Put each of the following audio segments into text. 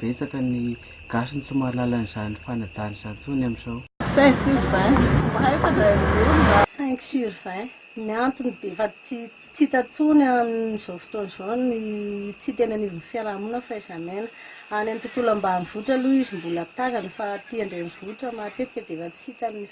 Betsaka ny gasy no tsy mahalala an'izany fanajana izany intsony amin'izao. Cinq sur vingt, tsy mahay fa zay mivory mba. Cinq sur vingt, ny antony dia efa tsy tsy hita intsony amin'izao fotoana izao ny tsy hita eny anivon'ny fiarahamonina fa aiza miaina. Any amin'ny tontolo ambanivohitra aloha izy mbola tazana fa aty an-drenivohitra matetika dia efa tsy hita ny.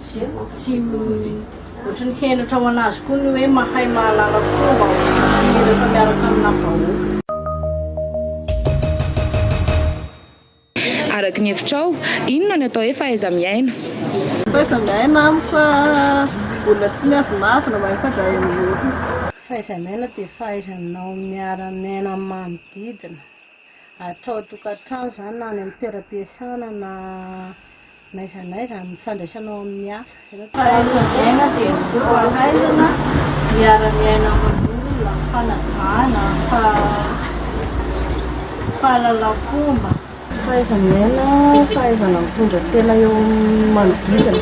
Tsy tsy ohatran'ny henatra ho an'azy koa ny hoe mahay mahalala fomba hira rehefa miaraka aminà vahoaka. Araky ny hevitrao, inona no atao hoe fahaiza-miaina? Fahaiza-miaina amiko fa olona tsy miavonavona, mahay mifandray amin'ny olona. Fahaiza-miaina dia fahaizanao miara-miaina amin'ny manodidina, atra ao an-tokantrano izany na any amin'ny toeram-piasana na. N'aiza n'aiza amin'ny fandraisanao amin'ny hafa. Fahaiza-miaina dia ny fahaizana miara-miaina amin'olona, fanajana, fahalalam-pomba. Fahaiza-miaina, fahaizana mitondra tena eo amin'ny manodidina,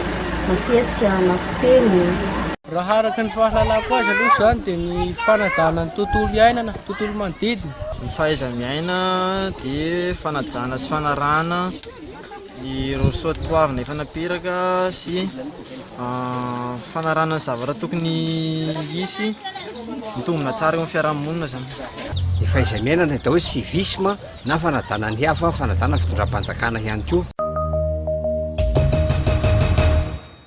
na fihetsika, na fiteny. Raha araka ny fahalalako azy aloha izany dia ny fanajana ny tontolo iainana, ny tontolo manodidina. Ny fahaiza-miaina dia fanajana sy fanarahana. Ny rosoa toavina efa napiraka sy fanarahana ny zavatra tokony hisy mitombina tsara eo amin'ny fiarahamonina izany. Ny fahaiza-miainana, atao hoe civisme na fanajana ny hafa, fanajana ny fitondram-panjakana ihany koa.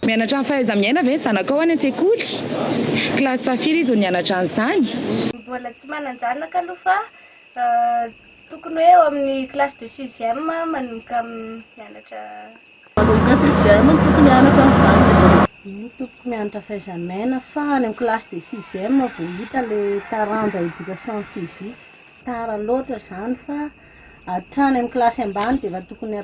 Mianatra ny fahaiza-miaina ve ny zanakao any an-tsekoly? Kilasy fahafira izy no nianatra an'izany. Mbola tsy manan-janaka aloha fa Tokony hoe eo amin'ny classe de sixième manomboka mianatra. Manomboka sixième no tokony hianatra ny zanaka. Io tokony mianatra faizamiaina fa any amin'ny classe de sixième vao hita ilay taranja éducation civique. Tara loatra izany fa hatrany amin'ny kilasy ambany dia efa tokony.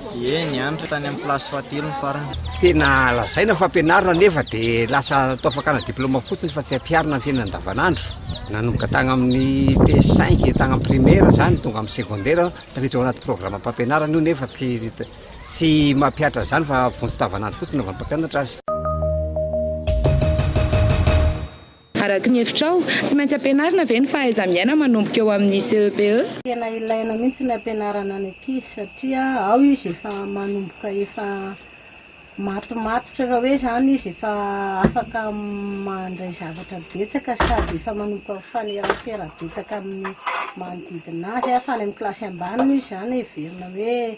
Ie, nianatra tany amin'ny kilasy fahatelo ny farany. Tena lazaina fa ampianarina nefa dia lasa natao fakana diplaoma fotsiny fa tsy ampiharina amin'ny fiainana andavanandro. Nanomboka tagny amin'ny T5, tagny amin'ny primaire izany, tonga amin'ny secondaire, tafiditra ao anaty programam-pampianarana io nefa tsy tsy mampihatra an'izany fa vonjy tavanandro fotsiny anaovan'ny mpampianatra azy. Araka ny hevitrao, tsy maintsy ampianarina ve ny fahaiza-miaina manomboka eo amin'ny CEPE? Tena ilaina mihitsy ny ampianarana ny ankizy satria ao izy efa manomboka efa matomatotra efa hoe izany izy efa afaka mandray zavatra betsaka sady efa manomboka mifanerasera betsaka amin'ny manodidina azy fa any amin'ny kilasy ambany moa izy izany heverina hoe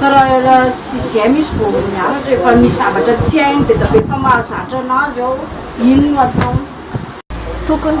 Raha sixième izy vao mianatra, efa misy zavatra tsy hainy be dia be fa mahazatra anazy ao, iny no ataony. Tokony.